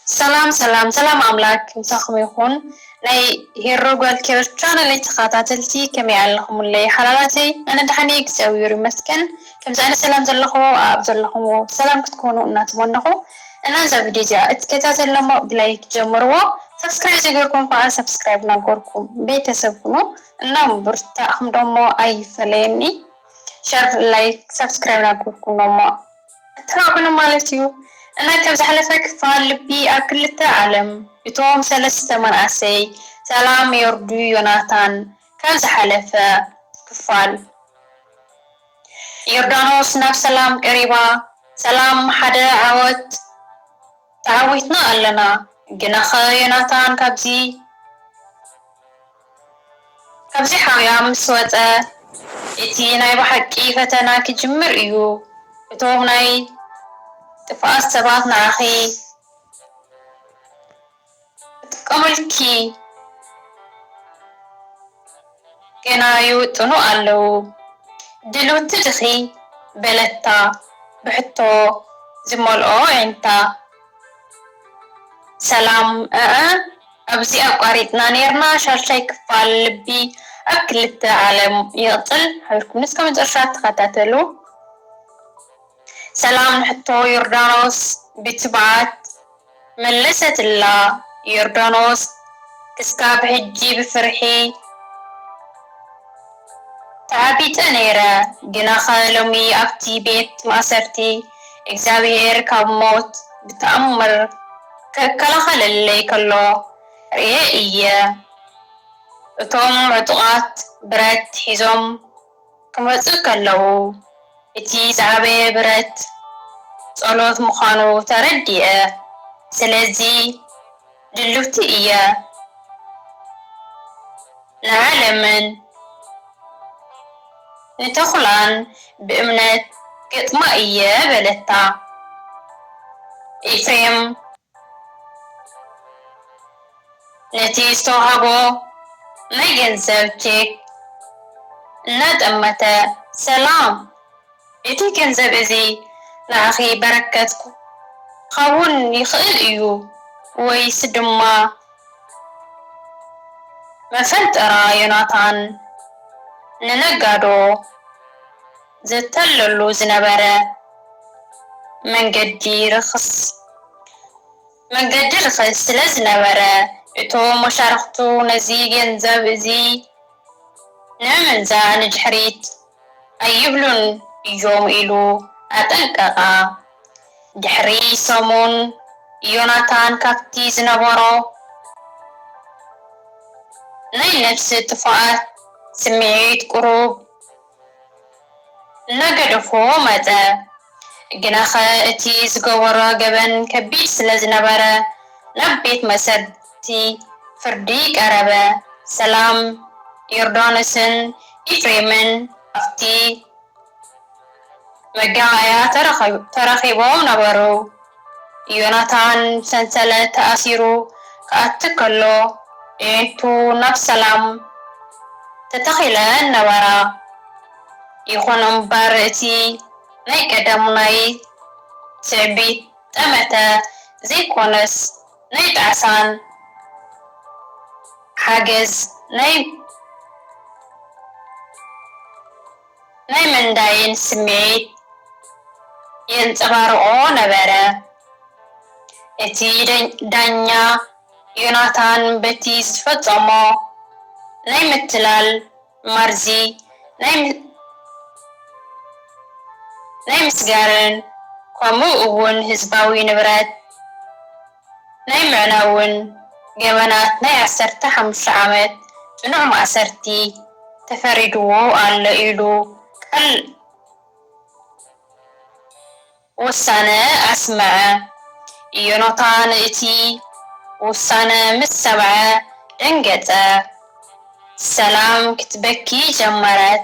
ሰላም ሰላም ሰላም ኣምላክ ምሳኩም ይኩን ናይ ሄሮ ጓል ኪሮስ ቻነለይ ተከታተልቲ ከመይ ኣለኩምለይ ሓላላተይ ኣነ ደሓን እየ እግዚኣብሔር ይመስገን ከምዚ ዓይነት ሰላም ዘለኩዎ ኣብ ዘለኩምዎ ሰላም ክትኮኑ እናተመነኩ እና እዛ ቪድዮ እዚኣ እትከታተሉ እሞ ብላይክ ጀምርዎ ሰብስክራይብ ዘይገርኩም ከዓ ሰብስክራይብ እናገርኩም ቤተሰብ ኩኑ እና ምብርታዕኩም ደሞ ኣይፈለየኒ ሸር ላይክ ሳብስክራይብ ናገርኩሞ እሞ ኣተባብዑኒ ማለት እዩ እና ካብ ዝሓለፈ ክፋል ልቢ ኣብ ክልተ ዓለም እቶም ሰለስተ መናእሰይ ሰላም የውርዱ ዮናታን ካብ ዝሓለፈ ክፋል ዮርዳኖስ ናብ ሰላም ቀሪባ ሰላም ሓደ ዓወት ተዓዊትና ኣለና ግናኸ ዮናታን ካብዚ ካብዚ ሓውያ ምስ ወጸ እቲ ናይ ብሓቂ ፈተና ክጅምር እዩ። እቶም ናይ ጥፍኣት ሰባት ንዓኺ ክጥቀሙልኪ ገና ይውጥኑ ኣለዉ። ድልውቲ ዲኺ? በለታ ብሕቶ ዝመልኦ ኣዒንታ። ሰላም እዐ ኣብዚ ኣቋሪጽና ኔርና ሻልሻይ ክፋል ልቢ ኣብ ክልተ ዓለም ይቅጽል ሓቢርኩም እስከ መጨረሻ ተኸታተሉ። ሰላም ንሕቶ ዮርዳኖስ ብትብዓት መለሰትላ ዮርዳኖስ ክስካብ ሕጂ ብፍርሒ። ተዓቢጠ ነይረ ግናኸ ሎሚ ኣብቲ ቤት ማእሰርቲ እግዚኣብሄር ካብ ሞት ብተኣምር ክከላኸለለይ ከሎ ርእየ እየ። እቶም ዕጡቓት ብረት ሒዞም ክመጹ ከለዉ እቲ ዝዓበየ ብረት ጸሎት ምዃኑ ተረዲኣ። ስለዚ። ድልውቲ እየ ንዓለምን ንተኹላን ብእምነት ክገጥማ እየ በለታ። ኤፍሬም ነቲ ዝተውሃቦ ናይ ገንዘብ ቼክ እናጠመተ ሰላም! እቲ ገንዘብ እዚ ንዓኺ በረከት ክኸውን ይኽእል እዩ ወይስ ድማ መፈንጠራ ዮናታን ንነጋዶ ዘታልለሉ ዝነበረ መንገዲ ርኽስ መንገዲ ርኽስ ስለ ዝነበረ። እቶም መሻርኽቱ ነዚ ገንዘብ እዚ ንምምንዛዕ ንድሕሪት ኣይብሉን እዮም ኢሉ ኣጠንቀቐ። ድሕሪ ሰሙን፣ ዮናታን ካብቲ ዝነበሮ ናይ ነብሲ ጥፉኣት ስምዒት ቁሩብ እናገደፎ መጸ። ግናኸ እቲ ዝገበሮ ገበን ከቢድ ስለ ዝነበረ፣ ናብ ቤት መእሰርቲ ፍርዲ ቀረበ። ሰላም፣ ዮርዳኖስን ኤፍሬምን ኣብቲ መጋባእያ ተራኺቦም ነበሩ። ዮናታን ብሰንሰለት ተኣሲሩ ክኣቲ ከሎ፣ ኣዒንቱ ናብ ሰላም ተተኺለን ነበራ። ይኹን እምበር እቲ ናይ ቀደሙ ናይ ትዕቢት ጠመተ ዘይኮነስ ናይ ጣዕሳን ሓገዝ ናይ ምንዳይን ስምዒት የንጸባርቖ ነበረ። እቲ ዳኛ ዮናታን በቲ ዝፈጸሞ ናይ ምትላል መርዚ ናይ ምስጋርን ከምኡ እውን ህዝባዊ ንብረት ናይ ምዕናውን ገበናት ናይ ዓሰርተ ሓሙሽተ ዓመት ፅኑዕ ማእሰርቲ ተፈሪድዎ ኣሎ ኢሉ ቃል ውሳነ ኣስምዐ። ኢዮናታን እቲ ውሳነ ምስ ሰምዐ ደንገጸ። ሰላም ክትበኪ ጀመረት፣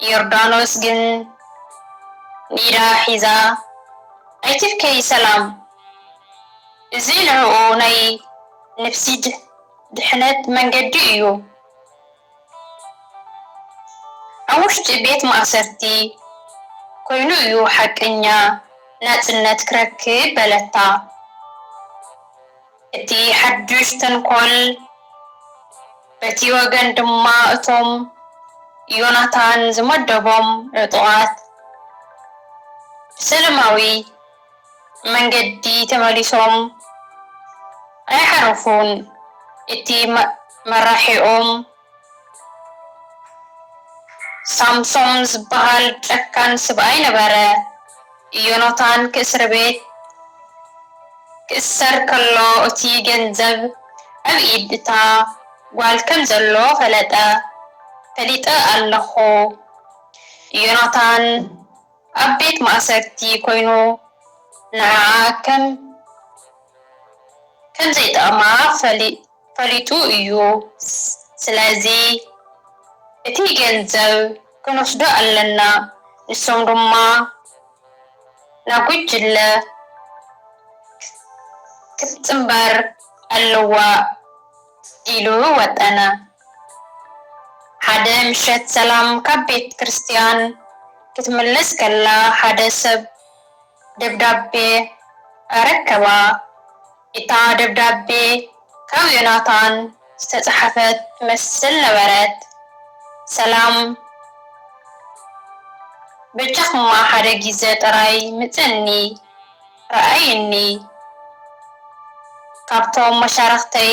ዮርዳኖስ ግን ንኢዳ ሒዛ፣ ኣይትብከዪ ሰላም፣ እዚ ንዕኡ ናይ ንፍሲ ድሕነት መንገዲ እዩ። ኣብ ውሽጢ ቤት ማእሰርቲ ኰይኑ እዩ ሓቀኛ ናጽነት ክረክብ በለታ። እቲ ሓድሽ ተንኰል በቲ ወገን ድማ እቶም ዮናታን ዝመደቦም ዕጡቓት ብሰለማዊ መንገዲ ተመሊሶም ኣይሓረፉን እቲ መራሒኦም ሳምሶም ዝባሃል ጨካን ስብኣይ ነበረ እዮኖታን ክእስርቤት ክእሰር ከሎ እቲ ገንዘብ ኣብ ኢድ እታ ጓል ከም ዘሎ ፈለጠ ፈሊጠ ኣለኩ እዮኖታን ኣብ ቤት ማእሰርቲ ኮይኑ ንዓኣ ከም ከም ዘይጠቕማ ፈሊጡ እዩ ስለዚ እቲ ገንዘብ ክንወስዶ ኣለና ንሶም ድማ ናብ ጉጅለ ክትጽንበር ኣለዋ ኢሉ ወጠነ። ሓደ ምሸት ሰላም ካብ ቤት ክርስትያን ክትምለስ ከላ ሓደ ሰብ ደብዳቤ ኣረከባ። እታ ደብዳቤ ካብ ዮናታን ዝተጻሕፈት ትመስል ነበረት፣ ሰላም በጃኹማ ሓደ ግዜ ጥራይ ምጸኒ ርኣይኒ፣ ካብቶም መሻርኽተይ፣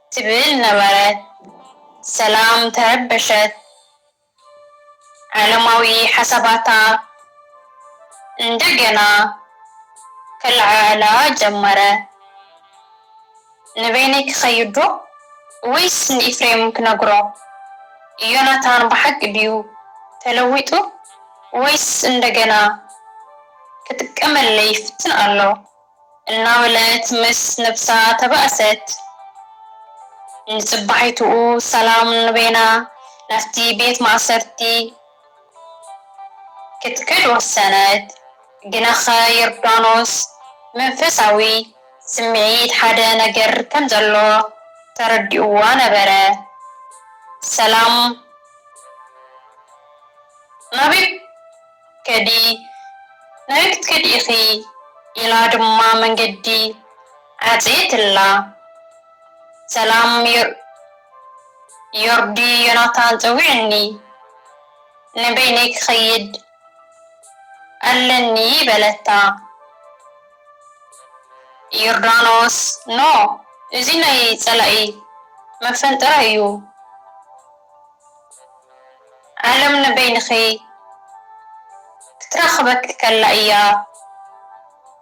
ትብል ነበረት ሰላም ተረበሸት ዓለማዊ ሓሳባታ እንደገና ከለዓዕላ ጀመረ ንበይነይ ክኸይድ ዶ ወይስ ንኢፍሬም ክነግሮ ዮናታን ብሓቂ ድዩ ተለዊጡ ወይስ እንደገና ክጥቀመለይ ይፍትን ኣሎ እናበለት ምስ ነብሳ ተባእሰት። ንጽባሒትኡ ሰላም ንበይና ናብቲ ቤት ማእሰርቲ ክትከድ ወሰነት። ግናኸ ዮርዳኖስ ብመንፈሳዊ ስምዒት ሓደ ነገር ከም ዘሎ ተረዲኡዋ ነበረ። ሰላም ናበይ? ከዲ ናበይ ክትከዲ ኢኺ ኢላ ድማ መንገዲ ዓጽየትላ። ሰላም ዮርዲ ዮናታን ጸዊዑኒ ንበይነይ ክኸይድ ኣለኒ በለታ። ዮርዳኖስ ኖ እዚ ናይ ጸላኢ መፈንጠራ እዩ። ዓለም ንበይንኺ ክትረኽበኪ ከላ እያ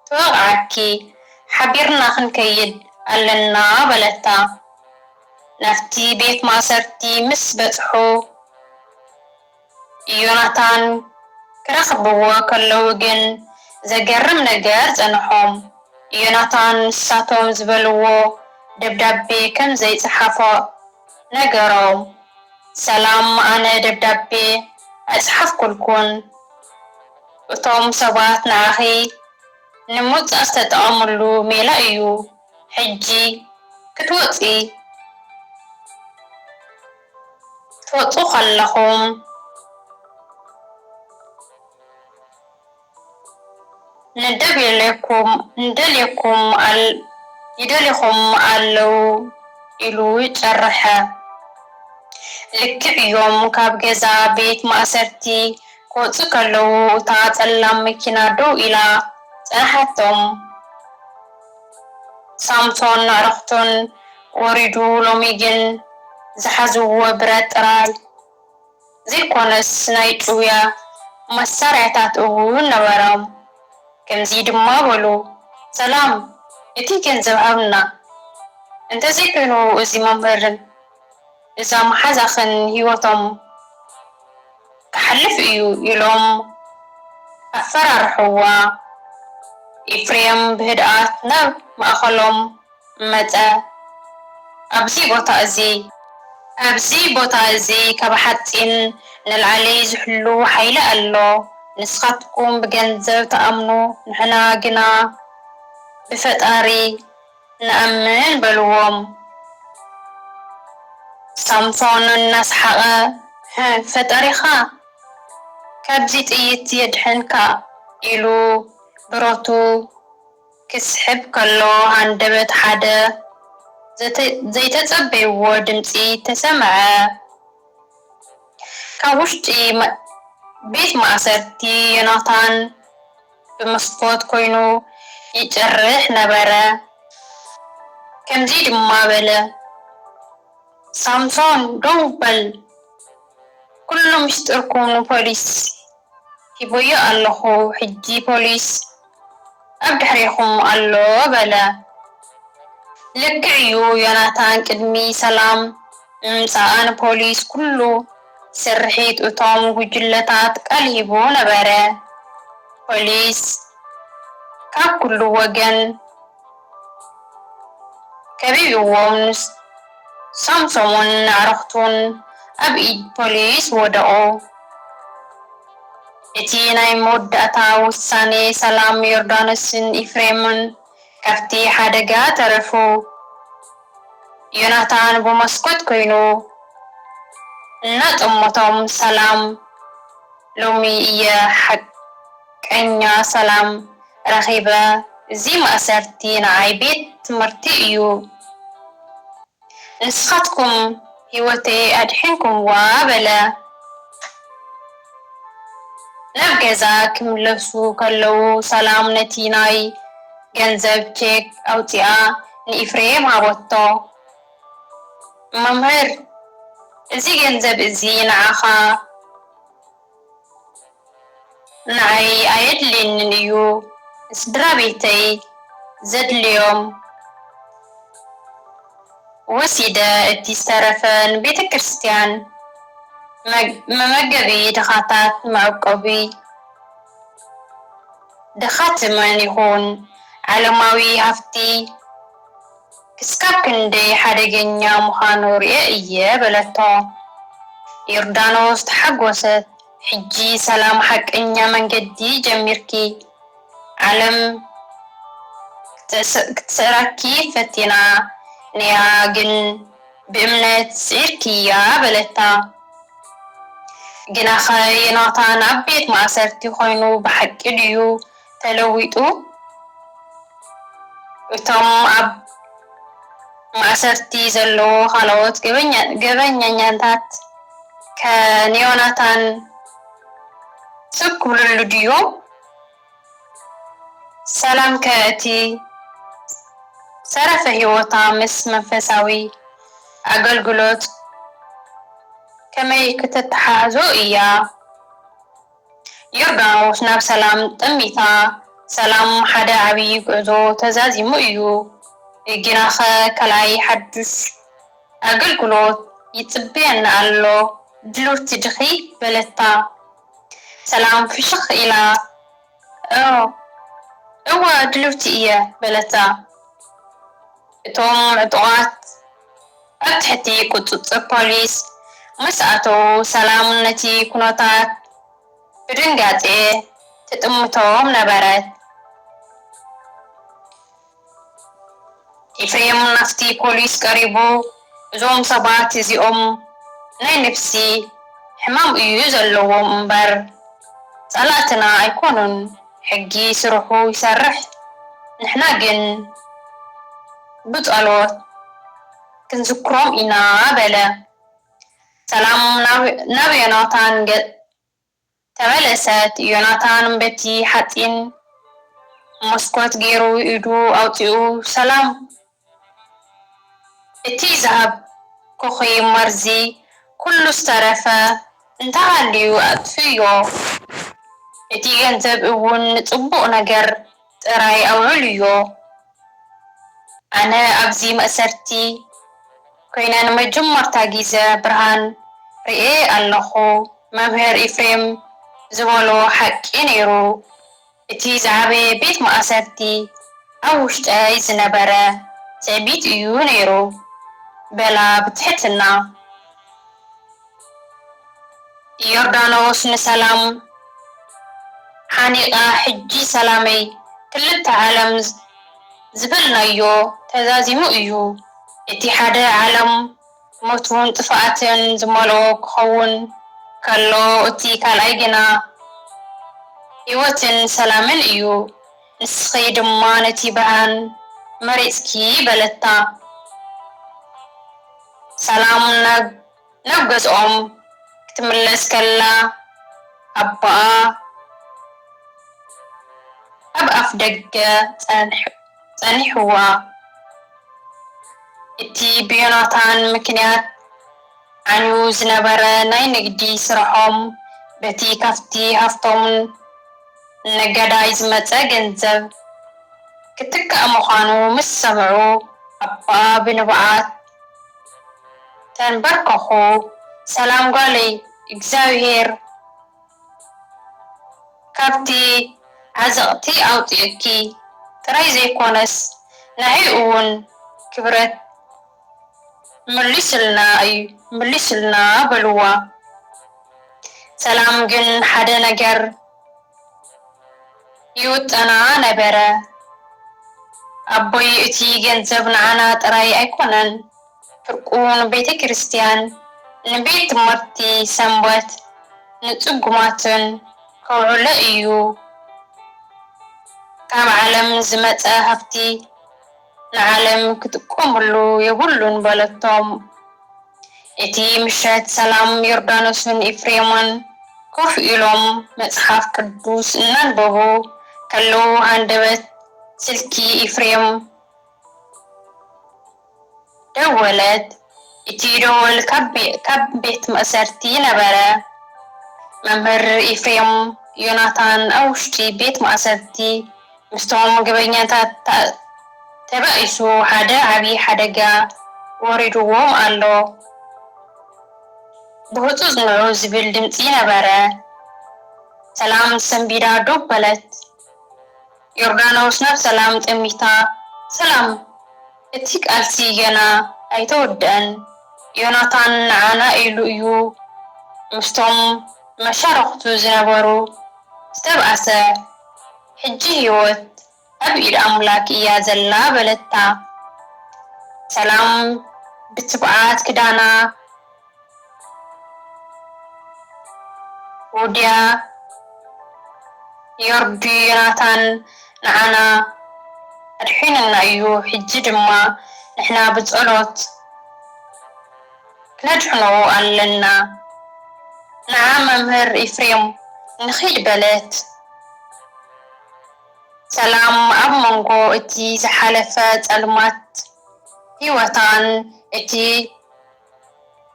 ትወቕዓኪ፣ ሓቢርና ክንከይድ ኣለና በለታ። ናብቲ ቤት ማእሰርቲ ምስ በጽሑ ዮናታን ክረኽብዎ ከለዉ ግን ዘገርም ነገር ጸንሖም። ዮናታን ንሳቶም ዝበልዎ ደብዳቤ ከም ዘይጸሓፎ፣ ነገሮም። ሰላም ኣነ ደብዳቤ ኣይጸሓፍኩልኩን እቶም ሰባት ንዓኺ ንምውጻእ ዝተጠቐምሉ ሜላ እዩ ሕጂ ክትወጺ ክትወጹ ከለኹም። ንደብየለኩም ንደልየኩም ይደልኹም ኣለው ኢሉ ጨረሐ። ልክዕ እዮም ካብ ገዛ ቤት ማእሰርቲ ክወጽኡ ከለው እታ ጸላም መኪና ደው ኢላ ጸንሓቶም። ሳምሶን ንዕረፍቱን ወሪዱ ሎሚ ግን ዝሓዝዎ ብረት ጥራይ። ዘይኮነስ ናይ ጭውያ መሳርያታት እውን ነበሮም። ከምዚ ድማ በሉ፣ ሰላም፣ እቲ ገንዘብ ሃብና፣ እንተዘይኮይኑ እዚ መምህርን እዛ መሓዛኽን ህይወቶም ክሓልፍ እዩ ኢሎም ኣፈራርሕዋ። ኤፍሬም ብህድኣት ናብ ማእከሎም መጸ። ኣብዚ ቦታ እዚ። ኣብዚ ቦታ እዚ ካብ ሓጺን ንላዕሊ ዝሕሉ ሓይሊ ኣሎ። ንስኻትኩም ብገንዘብ ትኣምኑ ንሕና ግና ብፈጣሪ ንኣምን በልዎም። ሳምሶን እናሰሓቐ ህህ ፈጣሪኻ ካብዚ ጥይት የድሕንካ ኢሉ ብረቱ ክስሕብ ከሎ ሃንደበት ሓደ ዘይተጸበይዎ ድምጺ ተሰምዐ። ካብ ውሽጢ ቤት ማእሰርቲ ዮናታን ብመስኮት ኮይኑ ይጭርሕ ነበረ። ከምዚ ድማ በለ፣ ሳምሶን ደው በል፣ ኩሉ ምስጢርኩም ንፖሊስ ሂበዮ ኣለኹ ሕጂ ፖሊስ ኣብ ድሕሬኹም ኣሎ በለ። ልክዕ'ዩ ዮናታን ቅድሚ ሰላም ምምጻኣ ንፖሊስ ኩሉ ስርሒት እቶም ጉጅለታት ቃል ሂቡ ነበረ። ፖሊስ ካብ ኩሉ ወገን። ከቢብዎም ንሳምሶምን ኣዕሩኽቱን ኣብ ኢድ ፖሊስ ወደቑ። እቲ ናይ መወዳእታ ውሳኔ ሰላም ዮርዳኖስን ኢፍሬምን ካብቲ ሓደጋ ተረፉ። ዮናታን ብመስኮት ኮይኑ እናጠመቶም ሰላም ሎሚ እየ ሓቂ ቀኛ ሰላም ረኺበ እዚ ማእሰርቲ ንዓይ ቤት ትምህርቲ እዩ ንስኻትኩም ሂወተይ ኣድሒንኩምዋ በለ ናብ ገዛ ክምለሱ ከለዉ ሰላም ነቲ ናይ ገንዘብ ቼክ ኣውጺኣ ንኢፍሬም ሃበቶ መምህር እዚ ገንዘብ እዚ ንዓኻ ንዓይ ኣየድልየንን እዩ ንስድራቤተይ ዘድልዮም ወሲደ እቲ ዝተረፈ ንቤተክርስትያን መመገቢ ድኻታት መዕቆቢ ድኻትምን ይኹን ዓለማዊ ሃፍቲ ክሳብ ክንደይ ሓደገኛ ምዃኑ ርእየ እየ በለቶ። ዮርዳኖስ ተሓጐሰት። ሕጂ ሰላም ሓቀኛ መንገዲ ጀሚርኪ። ዓለም ክትስዕረኪ ፈቲና ነይራ ግን ብእምነት ስዒርክያ በለታ። ግናኸ ዮናታን ኣብ ቤት ማእሰርቲ ዀይኑ ብሓቂ ድዩ ተለዊጡ እቶም ኣብ ማእሰርቲ ዘለዉ ካልኦት ገበኛኛታት ከንዮናታን ስብ ክብልሉ ድዮም? ሰላም ከ እቲ ዝተረፈ ህይወታ ምስ መንፈሳዊ ኣገልግሎት ከመይ ክተተሓሕዞ እያ? ዮርዳኖስ ናብ ሰላም ጠሚታ ሰላም ሓደ ዓብዪ ጉዕዞ ተዛዚሙ እዩ። ጊናኸ ካልኣይ ሓዱሽ ኣገልግሎት ይጽበየና ኣሎ ድልውቲ ዲኺ? በለታ ሰላም ፍሽኽ ኢላ። እወ ድልውቲ እየ በለታ። እቶም ዕጡቓት። ኣብ ትሕቲ ቁጽጽር ፖሊስ ምስ ኣተዉ ሰላም ነቲ ኩነታት ብድንጋጼ ትጥምቶም ነበረት። ኤፍሬም ናብቲ ፖሊስ ቀሪቡ እዞም ሰባት እዚኦም ናይ ነብሲ ሕማም እዩ ዘለዎም እምበር ጸላእትና ኣይኮኑን። ሕጊ ስርሑ ይሰርሕ ንሕና ግን ብጸሎት ክንዝክሮም ኢና በለ። ሰላም ናብ ዮናታን ገጽ ተመለሰት። ዮናታን በቲ ሓጺን መስኮት ጌሩ ኢዱ ኣውጺኡ ሰላም እቲ ዝሃብኩኺ መርዚ ኩሉ ዝተረፈ እንተሃልዩ ኣጥፍእዮ፣ እቲ ገንዘብ እውን ንጽቡቕ ነገር ጥራይ ኣውዕልዮ። ኣነ ኣብዚ መእሰርቲ ኰይነ ንመጀመርታ ግዜ ብርሃን ርእየ ኣለኹ። መምህር ኢፍሬም ዝበሎ ሓቂ ነይሩ። እቲ ዝዓበየ ቤት ማእሰርቲ ኣብ ውሽጠይ ዝነበረ ትዕቢት እዩ ነይሩ፣ በላ ብትሕትና። ዮርዳኖስ ንሰላም ሓኒቓ፣ ሕጂ ሰላመይ ክልተ ዓለም ዝበልናዮ ተዛዚሙ እዩ፣ እቲ ሓደ ዓለም። ሞትን ጥፍኣትን ዝመልኦ ክኸውን ከሎ፣ እቲ ካልኣይ ግና ህይወትን ሰላምን እዩ። ንስኺ ድማ ነቲ ብርሃን መሪጽኪ በለታ። ሰላም ናብ ገዝኦም ክትምለስ ከላ ኣቦኣ ኣብ ኣፍደገ ጸኒሑ። ጸኒሕዋ። እቲ ብዮናታን ምክንያት ዓንዩ ዝነበረ ናይ ንግዲ ስርሖም በቲ ካብቲ ሃፍቶም ነጋዳይ ዝመጸ ገንዘብ ክትካእ ምዃኑ ምስ ሰምዑ ኣቦኣ ብንብዓት ተንበርከኹ፣ ሰላም ጓለይ፣ እግዚኣብሄር ካብቲ ዓዘቕቲ ኣውጺኡኪ ጥራይ ዘይኮነስ ንዓይ እውን ክብረት መሊሱልና እዩ መሊሱልና በልዋ ሰላም ግን ሓደ ነገር ይውጠና ነበረ ኣቦይ እቲ ገንዘብ ንዓና ጥራይ ኣይኮነን ፍርቁ ንቤተክርስትያን፣ ንቤት ትምህርቲ ሰንበት፣ ንጽጉማትን ከውዕሎ እዩ። ካብ ዓለም ዝመጸ ሃብቲ ንዓለም ክጥቀመሉ የብሉን በለቶም። እቲ ምሸት ሰላም ዮርዳኖስን ኤፍሬምን ኮፍ ኢሎም መጽሓፍ ቅዱስ እናንበቡ ከለዉ ሃንደበት ስልኪ ኤፍሬም ደወለት እቲ ደወል ካብ ቤት ማእሰርቲ ነበረ። መምህር ኤፍሬም ዮናታን ኣብ ውሽጢ ቤት ማእሰርቲ ምስቶም ገበኛታት ተባኢሱ ሓደ ዓቢ ሓደጋ ወሪድዎም ኣሎ ብህጹጽ ንዑ ዝብል ድምጺ ነበረ። ሰላም ሰንቢዳ ዶብ በለት። ዮርዳኖስ ናብ ሰላም ጠሚታ ሰላም እቲ ቃልሲ ገና ኣይተወደኣን ዮናታን ንዓና ኢሉ እዩ ምስቶም መሻርኽቱ ዝነበሩ ዝተብኣሰ ሕጂ ሂወት ኣብ ኢድ ኣምላክ እያ ዘላ በለታ ሰላም ብትብዓት ክዳና ዉድያ ዮርዲ ዮናታን ንዓና ኣድሒኑና እዩ ሕጂ ድማ ንሕና ብጸሎት ክነድሕኖ ኣለና ንዓ መምህር ኢፍሬም ንኺድ በለት ሰላም ኣብ መንጎ እቲ ዝሓለፈ ጸልማት ሂወታን እቲ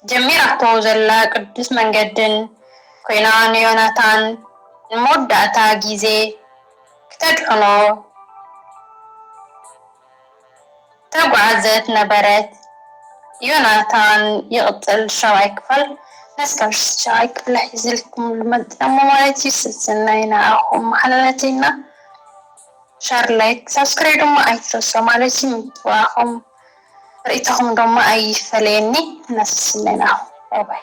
ጀሚራቶ ዘላ ቅዱስ መንገድን ኮይና ንዮናታን ንመወዳእታ ግዜ ክተድሕኖ ዝተጓዕዘት ነበረት። ዮናታን ይቕጽል ሻብዓይ ክፋል ነስካብ ሻብዓይ ክፍሊ ሒዝልኩም ልመጽእ እሞ ማለት እዩ ሰሰናዩ ንዓኹም መሓላለተይና ሸር ላይክ ሳብስክራይ ድማ ኣይትረስዑ ማለት እዩ ምትብባዕኹም ርእይቶኹም ደማ ኣይፈለየኒ እናሰስለናኹ ባባይ።